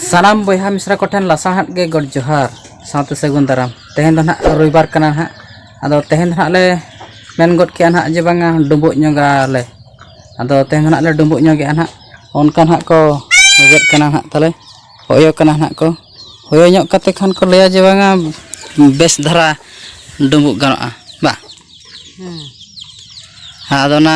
ᱥᱟᱱᱟᱢ ᱵᱚᱭᱦᱟ ᱢᱤᱥᱨᱟ ᱠᱚᱴᱷᱮᱱ ᱞᱟᱥᱟᱲᱦᱮᱫ ᱜᱮ ᱜᱚᱰ ᱡᱚᱦᱟᱨ ᱥᱟᱶᱛᱮ ᱥᱟᱹᱜᱩᱱ ᱫᱟᱨᱟᱢ ᱛᱮᱦᱮᱧ ᱫᱚ ᱱᱟᱦᱟᱜ ᱨᱚᱵᱤᱵᱟᱨ ᱠᱟᱱᱟ ᱱᱟᱦᱟᱜ ᱟᱫᱚ ᱛᱮᱦᱮᱧ ᱫᱚ ᱱᱟᱦᱟᱜ ᱞᱮ ᱢᱮᱱ ᱜᱚᱫ ᱠᱮᱜᱼᱟ ᱱᱟᱦᱟᱜ ᱡᱮ ᱵᱟᱝᱟ ᱰᱩᱵᱩᱜ ᱧᱚᱜᱟᱞᱮ ᱟᱫᱚ ᱛᱮᱦᱮᱧ ᱫᱚ ᱱᱟᱦᱟᱜ ᱞᱮ ᱰᱩᱵᱩᱜ ᱧᱚᱜᱮᱜᱼᱟ ᱱᱟᱦᱟᱜ ᱚᱱᱠᱟ ᱱᱟᱦᱟᱜ ᱠᱚ ᱜᱮᱫ ᱠᱟᱱᱟ ᱱᱟᱦᱟᱜ ᱛᱟᱞᱮ ᱦᱚᱭᱚ ᱠᱟᱱᱟ ᱱᱟᱦᱟᱜ ᱠᱚ ᱦᱚᱭᱚ ᱧᱚᱜ ᱠᱟᱛᱮ ᱠᱷᱟᱱ ᱠᱚ ᱞᱟᱹᱭᱟ ᱡᱮ ᱵᱟᱝᱟ ᱵᱮᱥ ᱫᱷᱟᱨᱟ ᱰᱩᱵᱩᱜ ᱜᱟᱱᱚᱜᱼᱟ ᱵᱟ ᱟᱫᱚ ᱚᱱᱟ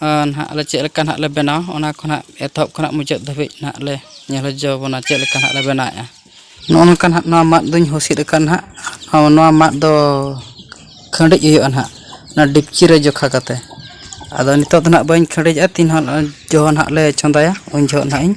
ᱱᱟᱦᱟᱜ ᱟᱞᱮ ᱪᱮᱫ ᱞᱮᱠᱟ ᱱᱟᱦᱟᱜ ᱞᱮ ᱵᱮᱱᱟᱣᱟ ᱚᱱᱟ ᱠᱚ ᱱᱟᱦᱟᱜ ᱮᱛᱚᱦᱚᱵ ᱠᱷᱚᱱᱟᱜ ᱢᱩᱪᱟᱹᱫ ᱫᱷᱟᱹᱵᱤᱡ ᱱᱟᱦᱟᱜ ᱞᱮ ᱧᱮᱞ ᱦᱚᱪᱚ ᱵᱚᱱᱟ ᱪᱮᱫ ᱞᱮᱠᱟ ᱱᱟᱦᱟᱜ ᱞᱮ ᱵᱮᱱᱟᱣᱮᱫᱼᱟ ᱱᱚᱜᱼᱚ ᱱᱚᱝᱠᱟ ᱱᱟᱦᱟᱜ ᱱᱚᱣᱟ ᱢᱟᱫ ᱫᱚᱧ ᱦᱩᱥᱤᱫ ᱟᱠᱟᱫᱼᱟ ᱱᱟᱦᱟᱜ ᱦᱚᱸ ᱱᱚᱣᱟ ᱢᱟᱫ ᱫᱚ ᱠᱷᱟᱹᱰᱤᱡ ᱦᱩᱭᱩᱜᱼᱟ ᱱᱟᱦᱟᱜ ᱚᱱᱟ ᱰᱮᱠᱪᱤ ᱨᱮ ᱡᱚᱠᱷᱟ ᱠᱟᱛᱮᱫ ᱟᱫᱚ ᱱᱤᱛᱚᱜ ᱫᱚ ᱱᱟᱦᱟᱜ ᱵᱟᱹᱧ ᱠᱷᱟᱹᱰᱤᱡᱟ ᱛᱤᱱ ᱦᱚᱸ ᱡᱚᱠᱷᱚᱱ ᱱᱟᱦᱟᱜ ᱞᱮ ᱪᱚᱸᱫᱟᱭᱟ ᱩᱱ ᱡᱚᱠᱷᱚᱱ ᱱᱟᱦᱟᱜ ᱤᱧ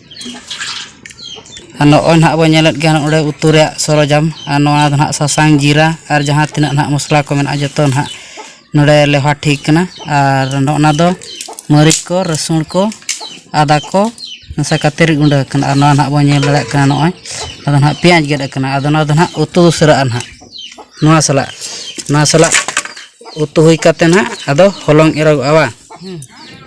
ᱟᱨ ᱱᱚᱜᱼᱚᱭ ᱱᱟᱦᱟᱜ ᱵᱚᱱ ᱧᱮᱞᱮᱫ ᱜᱮᱭᱟ ᱱᱚᱜᱼᱚᱭ ᱱᱚᱰᱮ ᱩᱛᱩ ᱨᱮᱭᱟᱜ ᱥᱚᱨᱚᱡᱟᱢ ᱟᱨ ᱱᱚᱣᱟ ᱫᱚ ᱱᱟᱦᱟᱜ ᱥᱟᱥᱟᱝ ᱡᱤᱨᱟ ᱟᱨ ᱡᱟᱦᱟᱸ ᱛᱤᱱᱟᱹᱜ ᱱᱟᱦᱟᱜ ᱢᱚᱥᱞᱟ ᱠᱚ ᱢᱮᱱᱟᱜᱼᱟ ᱡᱚᱛᱚ ᱱᱟᱦᱟᱜ ᱱᱚᱰᱮ ᱞᱮᱣᱦᱟ ᱴᱷᱤᱠ ᱠᱟᱱᱟ ᱟᱨ ᱱᱚᱜᱼᱚ ᱱᱟ ᱫᱚ ᱢᱟᱹᱨᱤᱪ ᱠᱚ ᱨᱟᱹᱥᱩᱱ ᱠᱚ ᱟᱫᱟ ᱠᱚ ᱢᱮᱥᱟ ᱠᱟᱛᱮᱫ ᱨᱤᱫ ᱜᱩᱸᱰᱟᱹ ᱟᱠᱟᱱᱟ ᱟᱨ ᱱᱚᱣᱟ ᱱᱟᱦᱟᱜ ᱵᱚᱱ ᱧᱮᱞ ᱫᱟᱲᱮᱭᱟᱜ ᱠᱟᱱᱟ ᱱᱚᱜᱼᱚᱭ ᱟᱫᱚ ᱱᱟᱦᱟᱜ ᱯᱮᱸᱭᱟᱡᱽ ᱜᱮᱫ ᱟᱠᱟᱱᱟ ᱟᱫᱚ ᱱᱚᱣᱟ ᱫᱚ ᱱᱟᱦᱟᱜ ᱩᱛᱩ ᱩᱥᱟᱹᱨᱟᱜᱼᱟ ᱱᱟᱦᱟᱜ ᱱᱚᱣᱟ ᱥᱟᱞᱟᱜ ᱱᱚᱣᱟ ᱥᱟᱞᱟᱜ ᱩᱛᱩ ᱦᱩᱭ ᱠᱟᱛᱮᱫ ᱱᱟᱦᱟᱜ ᱟᱫᱚ ᱦᱚᱞᱚᱝ ᱮᱨᱚᱜᱚᱜᱼᱟ ᱵᱟᱝ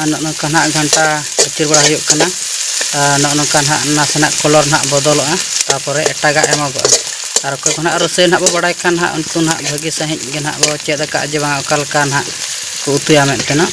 ᱟᱨ ᱱᱚᱜᱼᱚ ᱱᱚᱝᱠᱟ ᱱᱟᱜ ᱜᱷᱟᱱᱴᱟ ᱟᱹᱪᱩᱨ ᱵᱟᱲᱟ ᱦᱩᱭᱩᱜ ᱠᱟᱱᱟ ᱟᱨ ᱱᱚᱜᱼᱚ ᱱᱚᱝᱠᱟ ᱱᱟᱜ ᱱᱟᱥᱮᱱᱟᱜ ᱠᱚᱞᱚᱨ ᱱᱟᱜ ᱵᱚᱫᱚᱞᱚᱜᱼᱟ ᱛᱟᱨᱯᱚᱨᱮ ᱮᱴᱟᱜᱟᱜ ᱮᱢᱚᱜᱚᱜᱼᱟ ᱟᱨ ᱚᱠᱚᱭ ᱠᱚ ᱱᱟᱜ ᱨᱳᱥᱮᱭ ᱱᱟᱜ ᱵᱚ ᱵᱟᱲᱟᱭ ᱠᱷᱟᱱ ᱱᱟᱜ ᱩᱱᱠᱩ ᱱᱟᱜ ᱵᱷᱟᱹᱜᱤ ᱥᱟᱺᱦᱤᱡ ᱜᱮ ᱱᱟᱜ ᱵᱚ ᱪᱮᱫ ᱟᱠᱟᱫᱼᱟ ᱡᱮ ᱵᱟᱝ ᱚᱠᱟ ᱞᱮᱠᱟ ᱱᱟᱜ ᱠᱚ ᱩᱛᱩᱭᱟ ᱢᱮᱱᱛᱮ ᱱᱟᱜ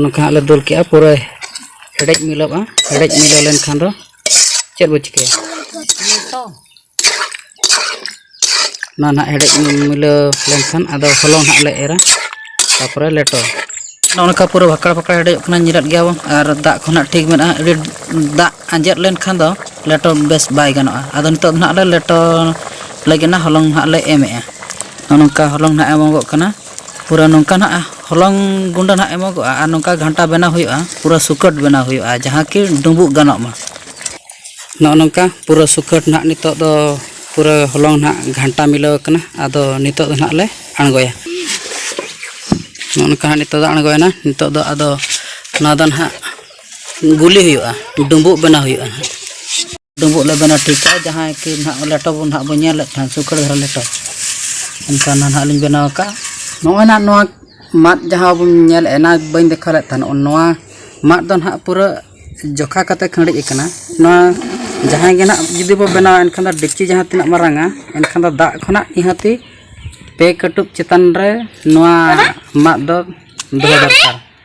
ᱱᱚᱝᱠᱟ ᱦᱟᱸᱜ ᱞᱮ ᱫᱩᱞ ᱠᱮᱜᱼᱟ ᱯᱩᱨᱟᱹ ᱦᱮᱰᱮᱡ ᱢᱤᱞᱟᱹᱜᱼᱟ ᱦᱮᱰᱮᱡ ᱢᱤᱞᱟᱹᱣ ᱞᱮᱱᱠᱷᱟᱱ ᱫᱚ ᱪᱮᱫ ᱵᱚ ᱪᱤᱠᱟᱹᱭᱟ ᱱᱚᱣᱟ ᱱᱟᱦᱟᱜ ᱦᱮᱰᱮᱡ ᱢᱤᱞᱟᱹᱣ ᱞᱮᱱᱠᱷᱟᱱ ᱟᱫᱚ ᱦᱚᱞᱚᱝ ᱦᱟᱸᱜ ᱞᱮ ᱮᱨᱟ ᱛᱟᱯᱚᱨᱮ ᱞᱮᱴᱚ ᱱᱚᱝᱠᱟ ᱯᱩᱨᱟᱹ ᱵᱷᱟᱠᱲ ᱵᱷᱟᱠᱲ ᱦᱮᱰᱮᱡᱚᱜ ᱠᱟᱱᱟ ᱧᱤᱨᱟᱫ ᱜᱮᱭᱟ ᱵᱚᱱ ᱟᱨ ᱫᱟᱜ ᱠᱚ ᱱᱟᱦᱟᱜ ᱴᱷᱤᱠ ᱢᱮᱱᱟᱜᱼᱟ ᱟᱹᱰᱤ ᱫᱟᱜ ᱟᱸᱡᱮᱫ ᱞᱮᱱᱠᱷᱟᱱ ᱫᱚ ᱞᱮᱴᱚ ᱵᱮᱥ ᱵᱟᱭ ᱜᱟᱱᱚᱜᱼᱟ ᱟᱫᱚ ᱱᱤᱛᱚᱜ ᱫᱚ ᱱᱟᱦᱟᱜ ᱞᱮ ᱞᱮᱴᱚ ᱞᱟᱹᱜᱤᱫ ᱱᱟᱦᱟᱜ ᱦᱚᱞᱚᱝ ᱱᱟᱦᱟᱜ ᱞᱮ ᱮᱢᱮᱜᱼᱟ ᱱᱚᱜᱼᱚ ᱱᱚᱝᱠᱟ ᱦᱚᱞᱚᱝ ᱱᱟᱦᱟᱜ ᱮᱢᱚᱜᱚᱜ ᱠᱟᱱᱟ ᱯᱩᱨᱟᱹ ᱱᱚᱝᱠᱟ ᱱᱟᱦᱟᱜ ᱦᱚᱞᱚᱝ ᱜᱩᱸᱰᱟᱹ ᱱᱟᱦᱟᱜ ᱮᱢᱚᱜᱚᱜᱼᱟ ᱟᱨ ᱱᱚᱝᱠᱟ ᱜᱷᱟᱱᱴᱟ ᱵᱮᱱᱟᱣ ᱦᱩᱭᱩᱜᱼᱟ ᱯᱩᱨᱟᱹ ᱥᱩᱠᱟᱹᱴ ᱵᱮᱱᱟᱣ ᱦᱩᱭᱩᱜᱼᱟ ᱡᱟᱦᱟᱸ ᱠᱤ ᱰᱩᱸᱵᱩᱜ ᱜᱟᱱᱚᱜ ᱢᱟ ᱱᱚᱜᱼᱚ ᱱᱚᱝᱠᱟ ᱯᱩᱨᱟᱹ ᱥᱩᱠᱟᱹᱴ ᱱᱟᱦᱟᱜ ᱱᱤᱛᱚᱜ ᱫᱚ ᱯᱩᱨᱟᱹ ᱦᱚᱞᱚᱝ ᱱᱟᱦᱟᱜ ᱜᱷᱟᱱᱴᱟ ᱢᱤᱞᱟᱹᱣ ᱟᱠᱟᱱᱟ ᱟᱫᱚ ᱱᱤᱛᱚᱜ ᱫᱚ ᱱᱟᱦᱟᱜ ᱞᱮ ᱟᱬᱜᱚᱭᱟ ᱱᱚᱜᱼᱚ ᱱᱚᱝᱠᱟ ᱱᱟᱦᱟᱜ ᱱᱤᱛᱚᱜ ᱫᱚ ᱟᱬᱜᱚᱭᱮᱱᱟ ᱱᱤᱛᱚᱜ ᱫᱚ ᱟᱫᱚ ᱱᱚᱣᱟ ᱫᱚ ᱱᱟᱦᱟᱜ ᱜᱩᱞᱤ ᱦᱩᱭᱩᱜᱼᱟ ᱰᱩᱸᱵᱩᱜ ᱵᱮᱱᱟᱣ ᱦᱩᱭᱩᱜᱼᱟ ᱱᱟᱦᱟᱜ ᱰᱩᱸᱵᱩᱜ ᱞᱮ ᱵᱮᱱᱟᱣ ᱴᱷᱤᱠᱟ ᱡᱟᱦᱟᱸᱭ ᱠᱤ ᱱᱟᱦᱟᱜ ᱞᱮᱴᱚ ᱵᱚᱱ ᱱᱟᱦᱟᱜ ᱵᱚᱱ ᱧᱮᱞᱮᱫ ᱛᱟᱦᱮᱸᱫ ᱥᱩᱠᱷᱟᱹ ᱫᱷᱟᱨᱟ ᱞᱮᱴᱚ ᱚᱱᱠᱟ ᱱᱟᱦᱟᱜ ᱞᱤᱧ ᱵᱮᱱᱟᱣ ᱟᱠᱟᱫᱼᱟ ᱱᱚᱜᱼᱚᱭ ᱱᱟᱦᱟᱜ ᱱᱚᱣᱟ ᱢᱟᱫ ᱡᱟᱦᱟᱸ ᱵᱚᱱ ᱧᱮᱞ ᱮᱱᱟ ᱵᱟᱹᱧ ᱫᱮᱠᱷᱟᱣ ᱞᱮᱫ ᱛᱟᱦᱮᱱ ᱱᱚᱣᱟ ᱢᱟᱫ ᱫᱚ ᱱᱟᱦᱟᱜ ᱯᱩᱨᱟᱹ ᱡᱚᱠᱷᱟ ᱠᱟᱛᱮ ᱠᱷᱟᱺᱰᱤᱡ ᱟᱠᱟᱱᱟ ᱱᱚᱣᱟ ᱡᱟᱦᱟᱸᱭ ᱜᱮ ᱱᱟᱦᱟᱜ ᱡᱩᱫᱤ ᱵᱚ ᱵᱮᱱᱟᱣᱟ ᱮᱱᱠᱷᱟᱱ ᱫᱚ ᱰᱮᱠᱪᱤ ᱡᱟᱦᱟᱸ ᱛᱤᱱᱟᱹᱜ ᱢᱟᱨᱟᱝᱟ ᱮᱱᱠᱷᱟᱱ ᱫᱚ ᱫᱟᱜ ᱠᱷᱚᱱᱟᱜ ᱱᱤᱦᱟᱹᱛᱤ ᱯᱮ ᱠᱟᱹᱴᱩᱵ ᱪᱮᱛᱟᱱ ᱨᱮ ᱱᱚᱣᱟ ᱢᱟᱫ ᱫᱚ ᱫᱚᱦᱚ ᱫᱚᱨᱠᱟᱨ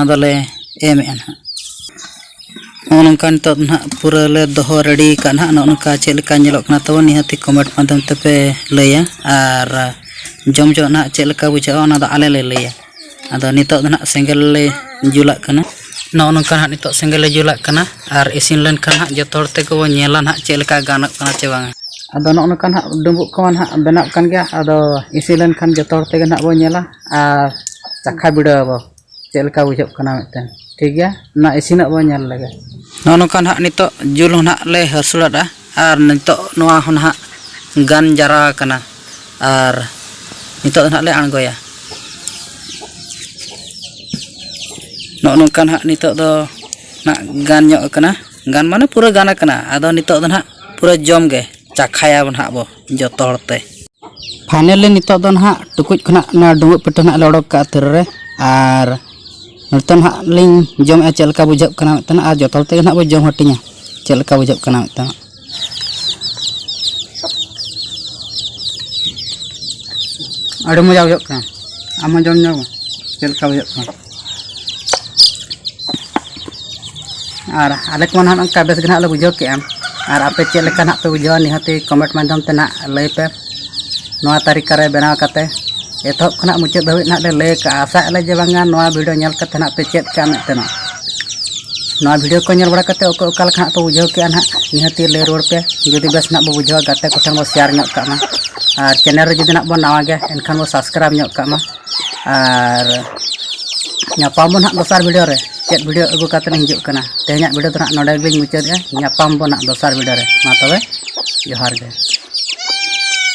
ᱟᱫᱚᱞᱮ ᱮᱢᱮᱫᱼᱟ ᱱᱟᱦᱟᱜ ᱱᱚᱜᱼᱚ ᱱᱚᱝᱠᱟ ᱱᱤᱛᱚᱜ ᱱᱟᱦᱟᱜ ᱯᱩᱨᱟᱹ ᱞᱮ ᱫᱚᱦᱚ ᱨᱮᱰᱤ ᱟᱠᱟᱫ ᱱᱟᱦᱟᱜ ᱱᱚᱜᱼᱚ ᱱᱚᱝᱠᱟ ᱪᱮᱫ ᱞᱮᱠᱟ ᱧᱮᱞᱚᱜ ᱠᱟᱱᱟ ᱛᱟᱵᱚᱱ ᱱᱤᱦᱟᱹᱛᱤ ᱠᱚᱢᱮᱱᱴ ᱢᱟᱫᱽᱫᱷᱚᱢ ᱛᱮᱯᱮ ᱞᱟᱹᱭᱟ ᱟᱨ ᱡᱚᱢ ᱡᱚᱜ ᱱᱟᱦᱟᱜ ᱪᱮᱫ ᱞᱮᱠᱟ ᱵᱩᱡᱷᱟᱹᱜᱼᱟ ᱚᱱᱟ ᱫᱚ ᱟᱞᱮ ᱞᱮ ᱞᱟᱹᱭᱟ ᱟᱫᱚ ᱱᱤᱛᱚᱜ ᱫᱚ ᱱᱟᱦᱟᱜ ᱥᱮᱸᱜᱮᱞ ᱞᱮ ᱡᱩᱞᱟᱜ ᱠᱟᱱᱟ ᱱᱚᱜᱼᱚ ᱱᱚᱝᱠᱟ ᱱᱟᱦᱟᱜ ᱱᱤᱛᱚᱜ ᱥᱮᱸᱜᱮᱞ ᱞᱮ ᱡᱩᱞᱟᱜ ᱠᱟᱱᱟ ᱟᱨ ᱤᱥᱤᱱ ᱞᱮᱱᱠᱷᱟᱱ ᱱᱟᱦᱟᱜ ᱡᱚᱛᱚ ᱦᱚᱲ ᱛᱮᱜᱮ ᱵᱚᱱ ᱧᱮᱞᱟ ᱱᱟᱦᱟᱜ ᱪᱮᱫ ᱞᱮᱠᱟ ᱜᱟᱱᱚᱜ ᱠᱟᱱᱟ ᱪᱮ ᱵᱟᱝᱟ ᱟᱫᱚ ᱱᱚᱜᱼᱚ ᱱᱚᱝᱠᱟ ᱱᱟᱦᱟᱜ ᱰᱩᱢᱵᱩᱜ ᱠᱚᱢᱟ ᱱᱟᱦᱟᱜ ᱵᱮᱱᱟᱜ ᱠᱟᱱ ᱜᱮᱭᱟ ᱟᱫᱚ ᱤᱥᱤᱱ ᱞᱮᱱᱠᱷᱟᱱ ᱡᱚᱛᱚ ᱦᱚᱲ ᱛᱮᱜᱮ ᱱᱟᱦᱟᱜ ᱵᱚᱱ ᱧᱮᱞᱟ ᱟᱨ ᱪᱟᱠᱷᱟ ᱵᱤᱰᱟᱹᱣ ᱟᱵᱚᱱ ᱪᱮᱫ ᱞᱮᱠᱟ ᱵᱩᱡᱷᱟᱹᱜ ᱠᱟᱱᱟ ᱢᱤᱫᱴᱮᱱ ᱴᱷᱤᱠ ᱜᱮᱭᱟ ᱚᱱᱟ ᱤᱥᱤᱱᱚᱜ ᱵᱚᱱ ᱧᱮᱞ ᱞᱮᱜᱮ ᱱᱚᱜᱼᱚ ᱱᱚᱝᱠᱟ ᱱᱟᱦᱟᱜ ᱱᱤᱛᱚᱜ ᱡᱤᱞ ᱦᱚᱸ ᱱᱟᱦᱟᱜ ᱞᱮ ᱦᱟᱹᱥᱩᱲᱟᱫᱼᱟ ᱟᱨ ᱱᱤᱛᱚᱜ ᱱᱚᱣᱟ ᱦᱚᱸ ᱱᱟᱦᱟᱜ ᱜᱟᱱ ᱡᱟᱣᱨᱟ ᱟᱠᱟᱱᱟ ᱟᱨ ᱱᱤᱛᱚᱜ ᱫᱚ ᱱᱟᱦᱟᱜ ᱞᱮ ᱟᱬᱜᱚᱭᱟ ᱱᱚᱜᱼᱚ ᱱᱚᱝᱠᱟ ᱱᱟᱦᱟᱜ ᱱᱤᱛᱚᱜ ᱫᱚ ᱱᱟᱦᱟᱜ ᱜᱟᱱ ᱧᱚᱜ ᱟᱠᱟᱱᱟ ᱜᱟᱱ ᱢᱟᱱᱮ ᱯᱩᱨᱟᱹ ᱜᱟᱱ ᱟᱠᱟᱱᱟ ᱟᱫᱚ ᱱᱤᱛᱚᱜ ᱫᱚ ᱱᱟᱦᱟᱜ ᱯᱩᱨᱟᱹ ᱡᱚᱢ ᱜᱮ ᱪᱟᱠᱷᱟᱭᱟᱵᱚᱱ ᱱᱟᱦᱟᱜ ᱵᱚ ᱡᱚᱛᱚ ᱦᱚᱲ ᱛᱮ ᱯᱷᱟᱭᱱᱮᱞᱤ ᱱᱤᱛᱚᱜ ᱫᱚ ᱱᱟᱦᱟᱜ ᱴᱩᱠᱩᱡ ᱠᱷᱚᱱᱟᱜ ᱱᱚᱣᱟ ᱰᱩᱸᱵᱩᱜ ᱯᱤᱴᱷᱟᱹ ᱱᱟᱦᱟᱜ ᱞᱮ ᱚᱰᱚᱠ ᱠᱟᱜᱼᱟ ᱛᱤᱨᱮ ᱨᱮ ᱟᱨ ᱱᱚᱛᱮ ᱱᱟᱦᱟᱜ ᱞᱤᱧ ᱡᱚᱢᱮᱜᱼᱟ ᱪᱮᱫ ᱞᱮᱠᱟ ᱵᱩᱡᱷᱟᱹᱜ ᱠᱟᱱᱟ ᱢᱤᱫᱴᱟᱝ ᱟᱨ ᱡᱚᱛᱚ ᱦᱚᱲ ᱛᱮᱜᱮ ᱱᱟᱦᱟᱜ ᱵᱚ ᱡᱚᱢ ᱦᱟᱹᱴᱤᱧᱟ ᱪᱮᱫ ᱞᱮᱠᱟ ᱵᱩᱡᱷᱟᱹᱜ ᱠᱟᱱᱟ ᱢᱤᱫᱴᱟᱝ ᱟᱹᱰᱤ ᱢᱚᱡᱟ ᱵᱩᱡᱷᱟᱹᱜ ᱠᱟᱱᱟ ᱟᱢ ᱦᱚᱸ ᱡᱚᱢ ᱧᱚᱜᱽ ᱢᱮ ᱪᱮᱫ ᱞᱮᱠᱟ ᱵᱩᱡᱷᱟᱹᱜ ᱠᱟᱱᱟ ᱟᱨ ᱟᱞᱮ ᱠᱚᱢᱟ ᱱᱟᱦᱟᱜ ᱱᱚᱝᱠᱟ ᱵᱮᱥ ᱜᱮ ᱱᱟᱦᱟᱜ ᱞᱮ ᱵᱩᱡᱷᱟᱹᱣ ᱠᱮᱜᱼᱟ ᱟᱨ ᱟᱯᱮ ᱪᱮᱫ ᱞᱮᱠᱟ ᱱᱟᱦᱟᱜ ᱯᱮ ᱵᱩᱡᱷᱟᱹᱣᱟ ᱱᱤᱦᱟᱹᱛᱤ ᱠᱚᱢᱮᱱᱴ ᱢᱟᱫᱽᱫᱷᱚᱢ ᱛᱮ ᱱᱟᱦᱟᱜ ᱞᱟᱹᱭ ᱯᱮ ᱱᱚᱣᱟ ᱛᱟᱹᱨᱤᱠᱟ ᱨᱮ ᱵᱮᱱᱟᱣ ᱠᱟᱛᱮ ᱮᱛᱚᱦᱚᱵ ᱠᱷᱚᱱᱟᱜ ᱢᱩᱪᱟᱹᱫ ᱫᱷᱟᱹᱵᱤᱡ ᱱᱟᱦᱟᱜ ᱞᱮ ᱞᱟᱹᱭ ᱟᱠᱟᱜᱼᱟ ᱟᱥᱟᱜ ᱟᱞᱮ ᱡᱮ ᱵᱟᱝᱟ ᱱᱚᱣᱟ ᱵᱷᱤᱰᱤᱭᱳ ᱧᱮᱞ ᱠᱟᱛᱮ ᱱᱟᱦᱟᱜ ᱯᱮ ᱪᱮᱫ ᱠᱟᱜᱼᱟ ᱢᱮᱱᱛᱮ ᱱᱟᱦᱟᱜ ᱱᱚᱣᱟ ᱵᱷᱤᱰᱤᱭᱳ ᱠᱚ ᱧᱮᱞ ᱵᱟᱲᱟ ᱠᱟᱛᱮ ᱚᱠᱚᱭ ᱚᱠᱟ ᱞᱮᱠᱟ ᱱᱟᱦᱟᱜ ᱯᱮ ᱵᱩᱡᱷᱟᱹᱣ ᱠᱮᱜᱼᱟ ᱱᱟᱦᱟᱜ ᱱᱤᱦᱟᱹᱛᱤ ᱞᱟᱹᱭ ᱨᱩᱣᱟᱹᱲ ᱯᱮ ᱡᱩᱫᱤ ᱵᱮᱥ ᱱᱟᱦᱟᱜ ᱵᱚ ᱵᱩᱡᱷᱟᱹᱣᱟ ᱜᱟᱛᱮ ᱠᱚᱴᱷᱮᱱ ᱵᱚ ᱥᱮᱭᱟᱨ ᱧᱚᱜ ᱠᱟᱜ ᱢᱟ ᱟᱨ ᱪᱮᱱᱮᱞ ᱨᱮ ᱡᱩᱫᱤ ᱱᱟᱦᱟᱜ ᱵᱚ ᱱᱟᱣᱟ ᱜᱮᱭᱟ ᱮᱱᱠᱷᱟᱱ ᱵᱚ ᱥᱟᱵᱥᱠᱨᱟᱭᱤᱵᱽ ᱧᱚᱜ ᱠᱟᱜ ᱢᱟ ᱟᱨ ᱧᱟᱯᱟᱢ ᱵᱚᱱ ᱦᱟᱸᱜ ᱫᱚᱥᱟᱨ ᱵᱷᱤᱰᱤᱭᱳ ᱨᱮ ᱪᱮᱫ ᱵᱷᱤᱰᱤᱭᱳ ᱟᱹᱜᱩ ᱠᱟᱛᱮ ᱤᱧ ᱦᱤᱡᱩᱜ ᱠᱟᱱᱟ ᱛᱮᱦᱮᱧᱟᱜ ᱵᱷᱤᱰᱤᱭᱳ ᱫᱚ ᱦᱟᱸᱜ ᱱᱚᱰᱮ ᱜᱮᱞᱤᱧ ᱢᱩᱪᱟᱹᱫᱮᱜᱼᱟ ᱧᱟᱯᱟᱢ ᱵᱚᱱ ᱦᱟᱸᱜ ᱫᱚᱥᱟᱨ ᱵᱷᱤᱰᱤᱭᱳ ᱨᱮ ᱢᱟ ᱛᱚᱵᱮ ᱡᱚᱦᱟᱨ ᱜᱮ